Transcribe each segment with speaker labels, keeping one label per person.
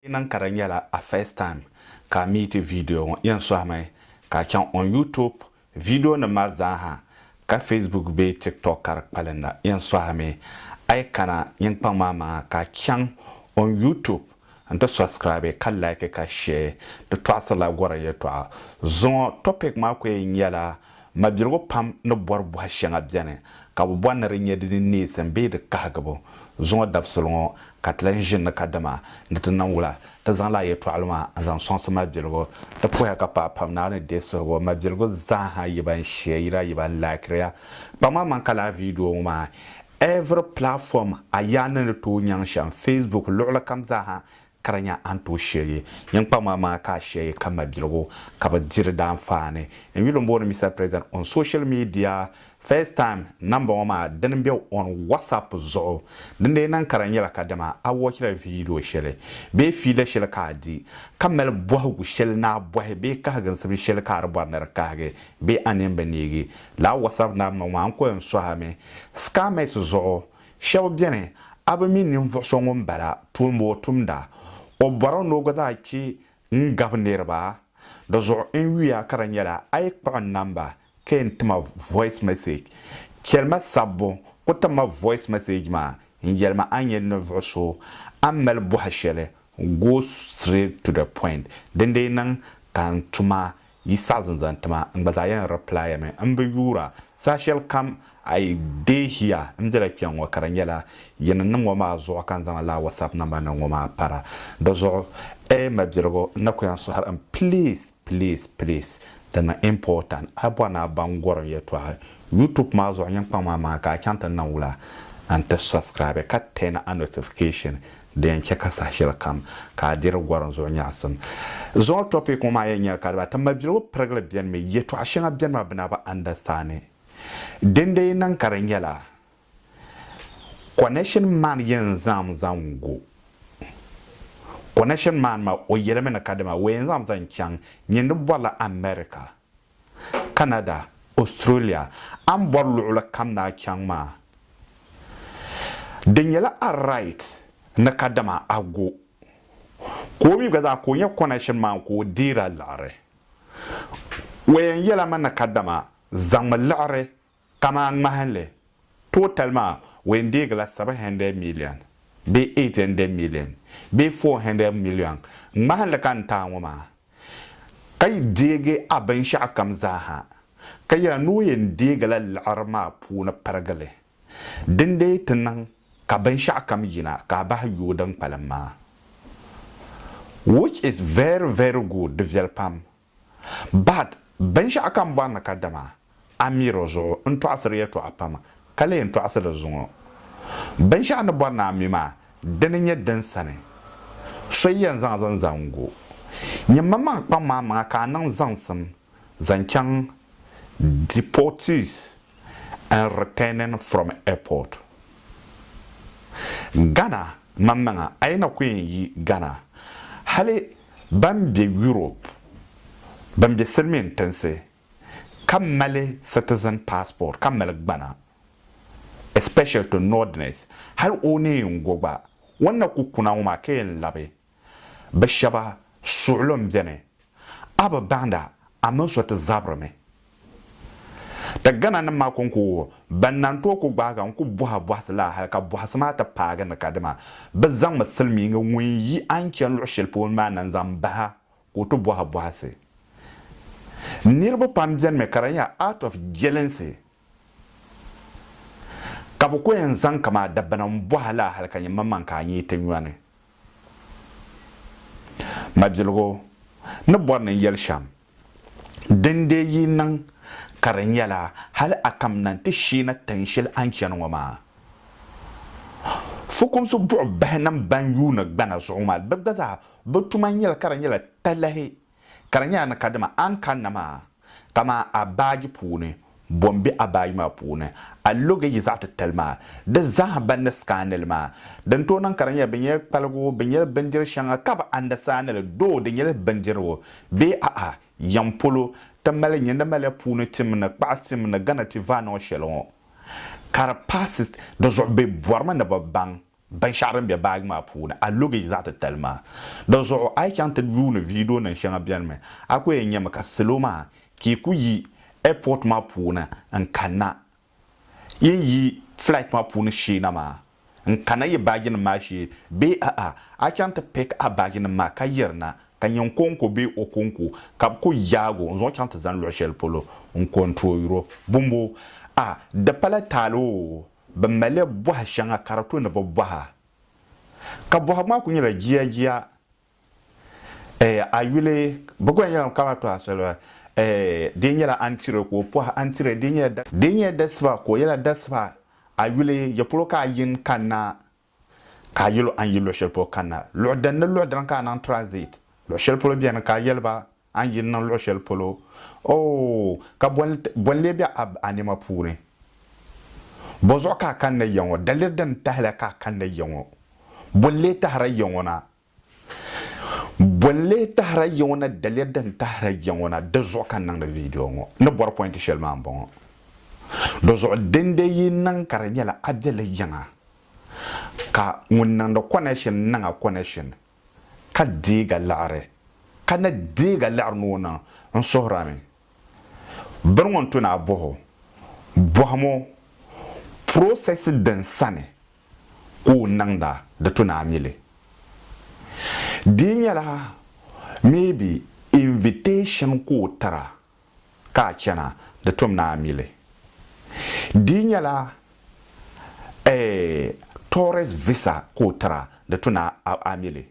Speaker 1: Di niŋ ka di nyɛla a first time ka a meeti video ŋɔ, yɛn sɔhimi ka a chaŋ on YouTube video nim maa zaa ha ka Facebook bee TikTok ka di kpalinda. Yɛn sɔhimi a yi kana nyinkpaŋ maa maŋa ka a chaŋ on YouTube n ti subscribe ka like ka share. Di tɔɣisirila gɔrim yɛtɔɣa zuŋɔ. Topic maa ku yɛn nyɛla Mabirigu pam ni bɔri bɔha shɛŋa beni ka bɛ bɔri ni di nyɛ di ni neesim bee di kahigibu zuŋɔ dabisili ŋɔ ka ti lan ʒini ni kadama ni ti niŋ wula. Ti zaŋla a yɛtɔɣili maa n-zaŋ sɔŋsi Mabirigu. Ti puhiya ka paai pam Naawuni ni deei suhibu Mabirigu zaaha yi ban ʒiya yi daa yi ban laakiriya. Kpaŋmaŋ man ka lala viidiyo ŋɔ maa every platform a yaa ni ni tooi nyaŋ shɛm, Facebook luɣilikam zaaha Ka di nya a ni tooi shiri nyiŋkpaŋmaŋ maa ka a shiri ka mabiligu ka bi diri daanfaani. N yuli n booni Mister President on social media first time nambɔŋɔ maa dini n be on WhatsApp zuɣu. Din dee niŋ ka di nyɛla ka dama a wɔchila viidiyo shɛli bee fiila shɛli ka a di ka mali bɔhigu shɛli ni a bɔhi bee kahigiŋsim shɛli ka a di bɔri ni di kahigi bee a nini bi neegi li a WhatsApp nambɔŋɔ maa n ko yɛn sɔhimi scammers zuɣu Shɛba beni, a bi mi ninvuɣ so ŋun bala tuun bo o tumda? O bɔrimi ni o gba zaa chɛ n-gab niriba. Di zuɣu n yuya ka di nyɛla a yi kpuɣi n namba ka yɛn ti ma voice message, chɛli ma sabbu ku tim ma voice message maa n-yɛli ma a nyɛ ninvuɣ so a ni mali bɔhi shɛli, go straight to the point, dindee niŋ ka n tuma Yi saɣi zinzan ti ma, n gba zaa yɛn reply mi, n bi yuura. Saha shɛli kam a yi deehiya n bela kpɛŋ ŋɔ ka di nyɛla yi ni niŋ ŋɔ maa zuɣu ka n zaŋ lala WhatsApp number niŋ ŋɔ maa para. Di zuɣu A mabirigu n na ku yɛn sɔhiri n please please please di niŋ important a bɔri ni a baŋ gɔrim yɛltɔɣa YouTube maa zuɣu nyiŋkpaŋ maa maŋa ka a chaŋ ti niŋ wula n ti subscribe ka turn a notification Di yɛn chɛ ka saha shɛli kam ka a diri gɔrim zuɣu nyaɣisim zuɣu tɔpik ŋɔ maa yɛn nyɛla ka di ba ti mabiligu pirigili beni mi yɛtɔɣ shɛŋa beni maa bɛ na bi andastandi din di yi niŋ ka di nyɛla Connection Man yɛn zaŋm zaŋ gu Connection Man maa o yɛlimi ni kadama o yɛn zaŋm zaŋ chaŋ nyindi bɔrila America. Canada, Australia, a ni bɔri luɣili kam ni a chaŋ maa, di nyɛla a right ni kadama a go ka o mi gba zaa ka o nya connection maa ka o deeri a liɣiri. O yɛn yɛla mi ni kadama zaŋmi liɣiri Kaman ŋmahinli, total maa weendeegila seven hundred million bee eight hundred million bee four hundred million ŋmahinli ka n taai ŋɔ maa, ka yi deegi a binshɛɣukam zaaha, ka yɛli ni o yɛn deegila liɣiri maa puuni pirigi li, dindee ti niŋ ka binshɛɣukam yina ka a bahi yooi din kpalim maa. Which is very, very good, di viɛli pam. But binshɛɣu ka n bɔri ni ka dama a miri o zuɣu n tɔɣisiri yɛtɔɣa pam ka lee n tɔɣisi di zuŋɔ. Binshɛɣu ni bɔri ni a mi maa dini nyɛ din sani so yi yɛn zaŋ zaŋ zaŋ gu nyɛ maŋmaŋ kpaŋ maa maŋa ka a niŋ zaŋsim zaŋ chaŋ deportees. and returning from airport. Ghana maŋmaŋa a yi na ku yɛn yi Ghana hali ban be Europe ban be silimiin tinsi ka mali citizen passport ka mali gbana especially to Northerners hali o ni yɛn go gba o ni na ku kuna ŋɔ maa ka yɛn labi Bɛ shɛba suɣilo m-beni, a bi bahindi a mini so ti zabiri mi. Ti Ghana nim maa koŋkoogi ban na n-tooi ku gbahiga n-ku bɔhi bɔhisi la hali ka bɔhisi maa ti paagi ni ka dima bɛ zaŋmi silimiingi ŋun yi a ni chani luɣ shɛli polo maa na n-zaŋ bahi a ka o ti bɔhi bɔhisi. Niriba pam benimi ka di nyɛla out of jealousy Ka bɛ ku yɛn zaŋ ka maa dabbana m-bɔh a laa hal ka nyin maŋmaŋ ka a nyee ti nyɔni. Mabiligu ni bɔri ni n yɛli shɛm, din deei yi niŋ ka di nyɛla hal a kamina nti sheena tin shɛli a ni chani ŋɔ maa. Fukumsi buɣibahinim bɛn yuuni gbana zuɣu maa, bɛ gba zaa bɛ tuma nyɛla ka di nyɛla talahi. Ka di nyɛla ni kadama a ni kanna maa, kamani a baaji puuni bo m-be a baaji maa puuni, a logeji zaɣ titali maa, di zaaha ban ni scaani li maa. Din tooi niŋ ka di nyɛli bɛ nyɛla kpaligu, bɛ nyɛla bindiri shɛŋa ka bɛ andasaani li, doo di nyɛla bindirigu bee a'a yiŋ polo ti mali li, nyindi maliya puuni tim ni kpaɣa tim ni Ghana ti vaanɔɔ shɛli ŋɔ ka di paasi di zuɣu bɛ bɔrimi ni bɛ baŋ binshɛɣu din be baaji maa puuni, a luggage zaɣ titali maa. Di zuɣu a yi chaŋ ti yuuni vidio nim shɛŋa benimi, a ku yɛn nyɛmi ka salo maa chee ku yi airport maa puuni n kanna yi ni yi flight maa puuni sheena maa n kana yi baaji nim maa shee bee a'a a chaŋ ti pick a baaji nim maa ka yirina ka nyɛ Nkonkwo bee Okonkwo ka bɛ ku yaag o n zaŋ o chaŋ ti zani luɣ shɛli polo n kontooyiro. Bɔmboo? Ah, di pala taali oo! Bɛ mali bɔha shɛŋa ka di to ni bɛ bɔha. Ka bɔhigu maa kuli nyɛla jia jia eh, a yuli bɛ gɔya nyɛla ŋun kana ti tɔha soli eh, dee nyɛla Antire ka o pɔhi Antire, dee nyɛla dasiba ka o yɛla dasiba, a yuli ya polo ka a yin kanna ka a yɛl o a ni yi luɣ shɛli polo kanna. Luɣ dini ni luɣ dini ka a niŋ transit. Luɣ shɛli polo beni ka a yɛli ba a ni yi niŋ luɣ shɛli polo. Oo, ka bɔ n-lee be a nɛma puuni? Bɔzuɣu ka a kanna ya ŋɔ? Daliri dini tahila ka a kanna ya ŋɔ? Bɔ n-lee tahiri ya ŋɔ na? Bɔ n-lee tahira ya ŋɔ na daliya din tahira ya ŋɔ na di zuɣu ka n niŋdi viidiyo ŋɔ. Ni bɔri pɔinti shɛli maa m-bɔŋɔ. Di zuɣu dindee yi niŋ ka di nyɛla a be li yiŋa ka ŋun niŋdi kɔnɛshin niŋ a kɔnɛshin ka deeg a liɣiri ka ni deeg a liɣiri ni o niŋ n suhir a mi. Biri ŋɔ n-to ni a bɔh o bɔhimo process din sani ka o niŋda di to ni a mi li. Di nyɛla maybe invitation ka o tira ka a chana di tom ni a mi li. Di nyɛla eh tourist visa ka o tira di to ni a mi li.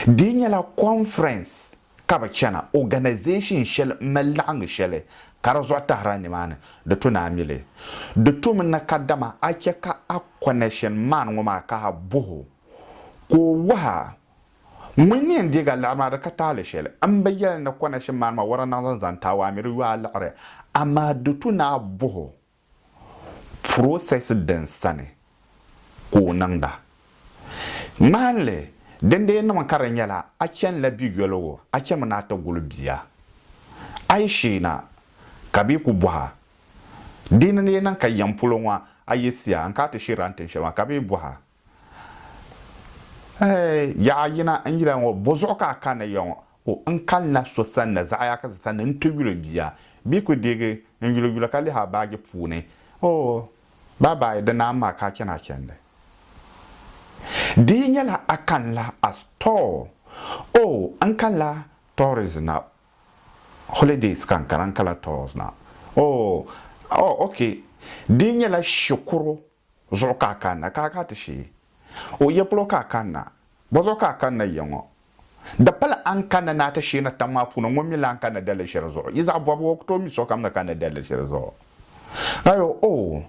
Speaker 1: Di nyɛla conference ka bɛ chana, organization shɛli m-mali laɣingu shɛli ka di zuɣu tahira nimaani, di to ni a mi li. Di to mi ni kadama a chɛ ka a connection man ŋɔ maa ka a bɔh o ka o wahi a ŋun ni yɛn deeg a liɣiri maa di ka taali shɛli. M bi yɛli ni connection man maa wara naɣ zaŋ zani taawaa mi di yo a liɣiri amaa di to ni a bɔh o Process din sani ka o niŋda. Ŋmahinli, dindee niŋmi ka di nyɛla a chani la bi yoligu a chami ni a ti guli bia. A yi sheei na ka bɛ ku bɔh a. Dindee niŋ ka yɛm polo ŋɔ a yiɣisiya n ka ti sheeri a ni tin shɛli maa ka bɛ bɔh a. Ɛɛh! Yaɣa yina n yila ŋɔ, bozuɣu ka a kanna ya ŋɔ? O, N kanna so sanna Zaɣiakisi sanni n-ti yuli bia. Bia kuli deegi n-yuli yula ka lihi a baaji puuni. O, Baa baa yi di naai m-ma ka a chani a chandi. Di yi nyɛla a kanila a store? O, N kanila tourist na. Holidays ka n kana, n kanila tours na. O, O, OK. Di yi nyɛla shikuru? zuɣu ka a kanna ka a ga ti shee? O ya polo ka a kanna? Bɔzuɣu ka a kanna ya ŋɔ? Di pali a ni kanna ni a ti shee na tiŋ maa puuni, ŋun mi lan kanna daliri shɛli zuɣu? Yi zaɣ bɔbigu, o ku tooi mi sokam ni kanna daliri shɛli zuɣu. Ayo, o,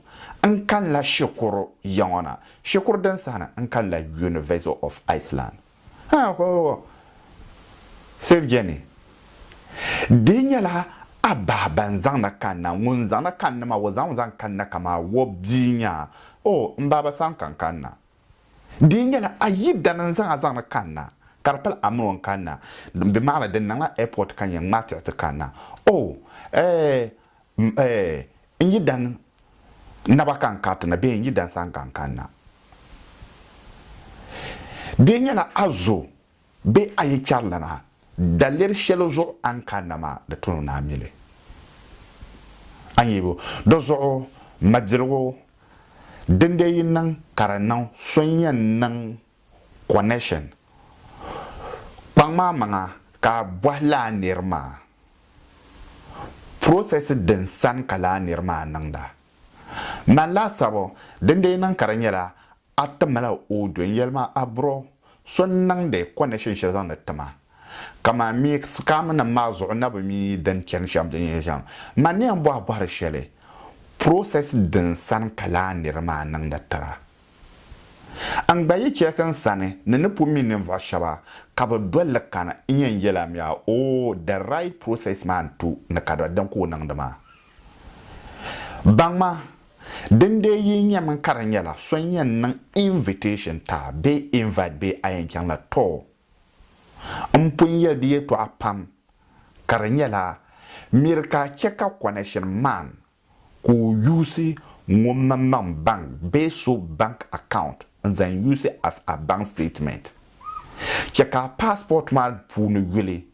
Speaker 1: n kanila shikuru ya ŋɔ na, shikuru din sahina, n kanila University of Iceland. Haa ka o Safe journey. Dihi nyɛla a bahi ban zaŋna kanna, ŋun zaŋna kanni maa o zaŋmi zaŋ kanna kamaa o bia nyaa oh m baaba sani ka n kanna. Dihi nyɛla a yidana n zaŋ a zaŋni kanna ka di pali a mini o n kanna. Bɛ maŋla di n niŋla airport ka nyɛ ŋmaatiɣi ti kanna oh eh M eh, n yi dan naba ka n kariti na bee n yi dan saha ka n kanna? Di yi nyɛla a zo bee a yi kpɛri lana, daliri shɛli zuɣu a ni kanna maa, di tuni ni a mi li. A ni yihibu di zuɣu mabiligu, dindee yi niŋ ka di niŋ so n-yɛn niŋ Connection, Kpaŋ maa maŋa ka a bɔhi lala nir maa process din sani ka lala nir maa niŋda. Mani laasabu din dee niŋ ka di nyɛla a timila audio n yɛli ma a bro so n niŋdi connection shɛli zaŋdi tima ka man mi scam nim maa zuɣu na bi mi din chani shɛm din yɛn shɛm man ni yɛn bɔhi bɔhiri shɛli process din sani ka lala nir maa niŋda tira. N gba yi chɛ ka n sani ni ni pun mi ninvuɣ shɛba ka bɛ dol li kani, n yɛn yɛlimiya, Oh, the right process maa n-tu ni ka doli din ka o niŋdi maa. Baŋma, dindee yi nya min ka di nyɛla so n-yɛn niŋ invitation ti a bee invite bee a yɛn chaŋ la, too, m pun yɛli di yɛtɔɣa pam ka di nyɛla miri ka a chɛ ka connection man Ka o use ŋomna nam bank bee so bank account n zaŋ use as a bank statement. Chɛ ka a passport maa puuni yuli,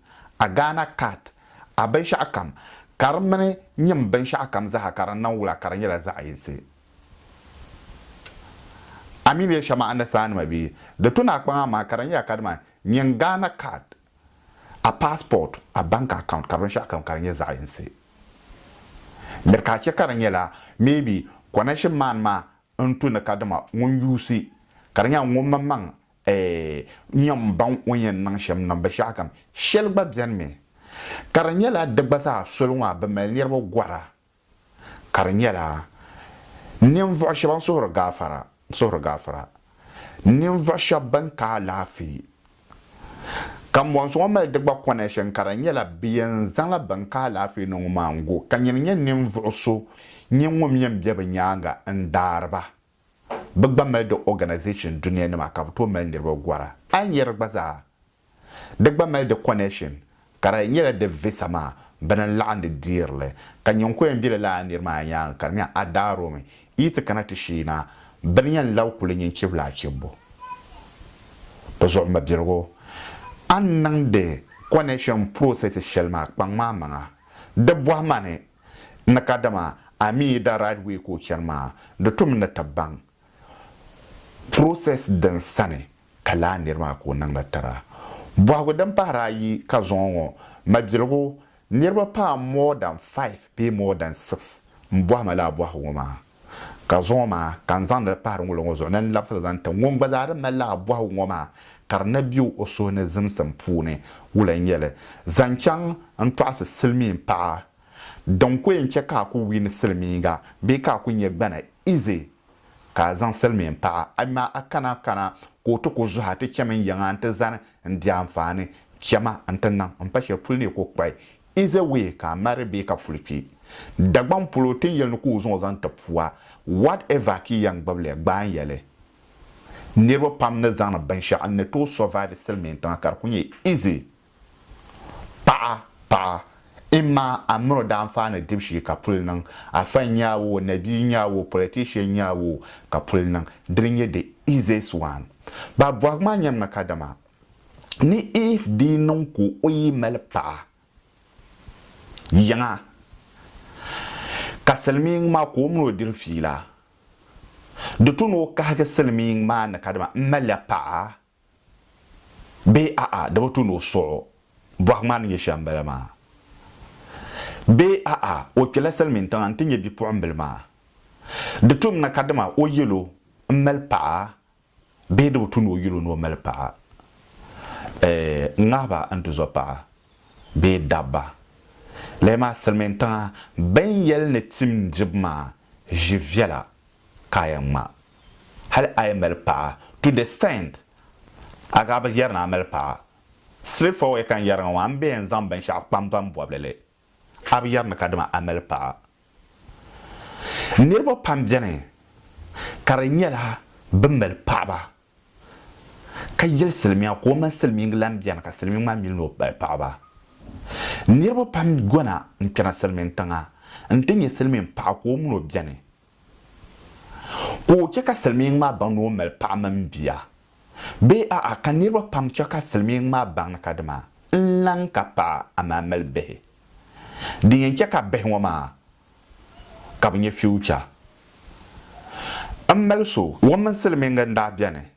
Speaker 1: a Ghana card, a binshɛɣu kam ka di mini nyim binshɛɣu kam zaa ka di niŋ wula ka di nyɛla zaɣ yinsi. A mi bɛ shɛm a ni saanima bee di tuna a kpaŋa maa ka di nyɛla kadama nyin Ghana card. a passport, a bank account ka binshɛɣu kam ka di nyɛ zaɣ'yinsi. Miri ka a chɛ ka di nyɛla maybe connection man maa n tu ni ka dama ŋun yuusi ka di nyɛla ŋun maŋmaŋ n nyɛ ŋun baŋ o ni yɛn niŋ shɛm niŋ binshɛɣu kam. Shɛli gba beni mi ka di nyɛla di gba zaa soli ŋɔ a bi mali niriba gɔra ka di nyɛla ninvuɣ shɛba n-suhiri gaafara, suhiri gaafara ninvuɣ shɛba bɛn ka alaafee. Kambɔnsi ŋɔ mali di gba connection ka di nyɛla bɛ yɛn zaŋla bɛn ka alaafee ni ŋɔ maa n-gu ka nyini nyɛ ninvuɣ so nyini ŋun mi yɛn be bɛ nyaaŋa n-daari ba. Bɛ gba mali di organization dunia nima ka bɛ tooi mali niriba gɔra. A yi nya di gba zaa, di gba mali di connection ka di nyɛla di visa maa bini n-laɣim di deeri li ka nyin ko yɛn be lala a niri maa nyaaŋa ka di nya a daa romi yi ti kana ti shee na bɛ ni yɛn labi kuli nyin chibila achibbu. Di zuɣu mabiligu, a ni niŋdi connection process shɛli maa kpaŋ ma amaŋa di bɔhi ma ni N ni ka dama a mi yi da right way ka o chani maa di tum n ni ti baŋ process din sani ka laa niri maa ka o niŋdi tira. Bɔhigu din pahiri ayi ka zuŋɔ ŋɔ mabiligu niriba paai more than five bee more than six m-bɔhi ma laa bɔhigu ŋɔ maa. Ka zuŋɔ maa ka n zaŋdi li pahiri ŋulo ŋɔ zuɣu ni n labisili zaŋ ti ŋun gba zaa di mali lala bɔhigu ŋɔ maa ka di na be o suhu ni zimsim puuni wula n-nyɛ li zaŋ chaŋ n tɔɣisi silimiin paɣa din ku yɛn chɛ ka a ku wiini silimiinga bee ka a ku nyɛ gbana ize ka a zaŋ silimiin paɣa ayimaa a kana kana ka o ti ku zuhi a ti chɛmi n yiŋa n ti zani n di anfaani chɛma n ti niŋ m pa shɛli puli ni yi ku kpahi Is a way ka a mari bee ka puli kpi. Dagbaŋ polo, ti ni yɛli ni ka o zaŋ o zaŋ ti pua. Whatever ka i yɛn gbibili, gbaai n-yɛli. Niriba pam ni zaŋdi binshɛɣu n-ni tooi survive silimiintiŋa ka di kuli nyɛ easy. Paɣa, paɣa, imma a mini o daanfaani dibu shee ka puli niŋ. Afa n-nyɛ a oo, nabia n-nyɛ a oo, politician n-nyɛ a oo, ka puli niŋ. Dini n-nyɛ the easiest one. Ba bɔhigu maa nyɛmi ni kadama ni Iv dii niŋ ka o yi mali paɣa yiŋa ka silimiiŋ maa ka o mini o diri fiila, di tu ni o kahigi silimiiŋ maa ni kadama m malila paɣa bee a'a di bi tu ni o suɣ o, bɔhigu maa ni nyɛ shɛm bala maa, bee a'a o kpela silimiin tiŋa n-ti nya bipuɣimbila maa, di tum ni kadama o yɛl o m mali paɣa Bee di bi tu ni o yuli o ni o mali paɣa n ŋahi ba n ti zo paɣa bee dabba. Lala maa silimiintiŋa bɛn yɛli ni tim dibu maa ʒi viɛla ka a yɛn ŋma hali a yi mali paɣa to the extent a gaa bi yɛri ni a mali paɣa. Straight forward ka n yɛri ŋɔ maa, m be yɛn zaŋ binshɛɣu kpam ban bɔbi li li. a bi yɛri ni kadama a mali paɣa. Niriba pam beni ka di nyɛla bɛ mali paɣaba ka yɛli silimiya ka o mini silimiingi lahi beni ka silimiingi maa mi ni o mali paɣaba. Niriba pam gona n-kpɛna silimiintiŋa n-ti nya silimiinpaɣa ka o mini o beni. Ka o chɛ ka silimiiŋ maa baŋ ni o mali paɣa mini bia? Bee a'a, ka niriba pam chɛ ka silimiiŋ maa baŋ ni kadama n-lan ka paɣa amaa mali bihi? Din yɛn chɛ ka bihi ŋɔ maa ka bɛ nyɛ future m-mali so. Ŋun mini silimiiŋ n-daa beni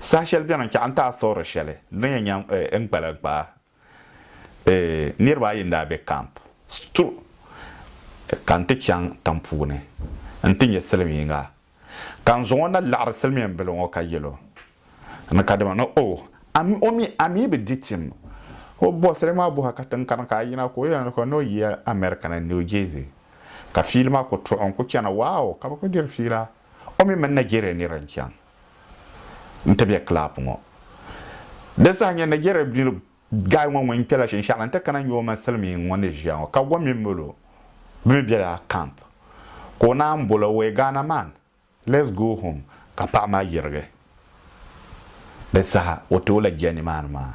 Speaker 1: Saha shɛli beni n-chaɣ n-ti a sɔɔri shɛli din yɛn nyaŋ n kpalim kpaa. Niriba ayi n-daa be kamp sto ka n ti chaŋ tiŋ puuni nti nya silimiiŋga ka n zaŋ o na laɣiri silimiin bila ŋɔ ka yɛl o ni kadama ni o ami o mi a mi bi di tim o bɔsili maa bɔha ka tiŋ kani ka a yina ka o yɛli o ni o yi America ni New Jersey ka fiili maa ku tuɣi n ku chana. Wow! Ka bɛ ku diri fiila. o mi mini Nigeria nira n-chaŋ nti be club ŋɔ. Di saha nya Nigeria nir guy ŋɔ ŋun kpela shinshɛɣu la nti kana nya o mini silimiin ŋɔ ni ʒiya ŋɔ ka gom mi mali o bɛ mi bela camp ka o naan bol o wee Ghana man let's go home ka paɣa maa yirigi. Di saha o ti o la jɛ nimaani maa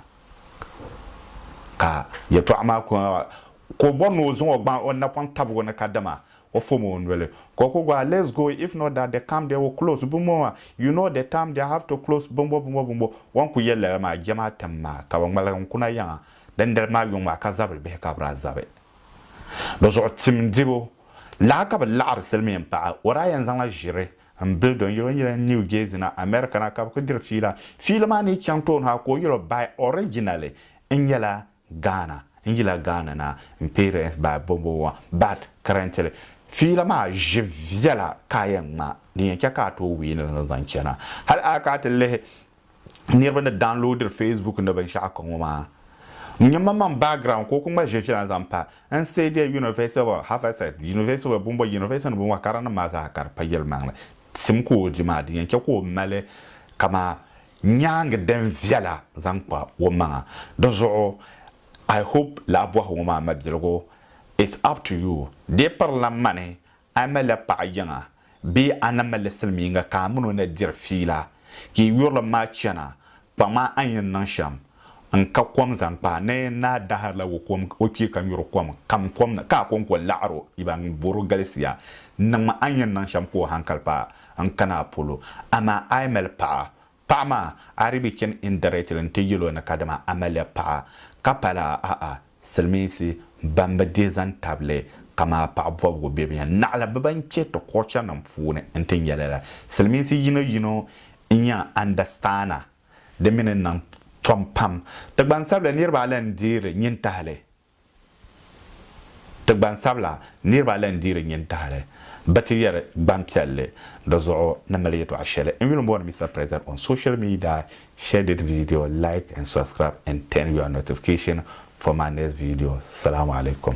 Speaker 1: ka yɛltɔɣa maa ka o bɔri ni o zaŋ o gbaŋ o napɔŋ tabi o ni ka dama O fom o noli ka o ku gɔa let's go if not that the camp there will close bimbo maa you know the camp there have to close bimbo bimbo bimbo o ni ku yɛli lala maa jɛmaa tim maa ka bi ŋmaligi n kuna yaŋa dindali maa yuŋ maa ka zabili bihi ka bi daa zabi di zuɣu tim dibu lahi ka bi laɣiri silimiin paɣa o daa yɛn zaŋla ʒiri n bili do n yɛli o nyɛla New Jersey na America na ka bi ku diri fiila fiili maa ni chaŋ tooni ha ka o yɛli o bae originally n nyɛla Ghana n yila Ghana na n parents by bombo wa but currently fiila maa ʒi viɛla ka a yɛn ŋma din yɛn chɛ ka a tooi win li zaŋ chana. Hali a kana ti lihi niriba ni downloadiri facebook ni binshɛɣu ka ŋɔ maa n nya manmaŋ background ka o kuli ŋma ʒi viɛla zaŋ pa n say dear University of Haverset, University of Bombo, University ni binwa karanim maa zaa ka di pa yɛlimaŋli tim ka o di maa din yɛn chɛ ka o mali kamaa Nyaangi din viɛla zaŋ kpa o maŋa. Di zuɣu I hope lahi bɔhi ŋɔ maa mabiligu it's up to you dee pirila mani a mali paɣa yiŋa bee a ni mali silimiinga ka a mini o na diri fiila ka yi yurilim maa chana kpaŋ maa a ni yɛn niŋ shɛm N ka kom zaŋ kpa ni naa daharila o kom o kpee ka nyuri kom kam kom ni ka a kɔŋko laɣiri o yiba n bɔr o galisiya n niŋ ma a ni yɛn niŋ shɛm ka o hankali paai n kana a polo amaa a yi mali paɣa paɣa maa a di bi chani indirectly n ti yɛl o ni kadama a malila paɣa ka pa lala ahaa silimiinsi ban bi dihi zaŋ tabili kama a paɣa bɔbigu bɛ bi yɛn naɣila bɛ ban kpe ti culture nim puuni n ti nyɛ lala silimiinsi yino yino n yɛn understand a Di mi ni niŋ tom pam. Ti gbansabila niriba ala n-deeri nyin tahili. Ti gbansabila niriba ala n-deeri nyin tahili. Bɛ ti yɛri gbampiɛlli. Di zuɣu ni mali yɛtɔɣ shɛli. N yuli m-booni Mister President on social media, share this video, like and subscribe and turn your notification for my next video. Salaam Alaikum.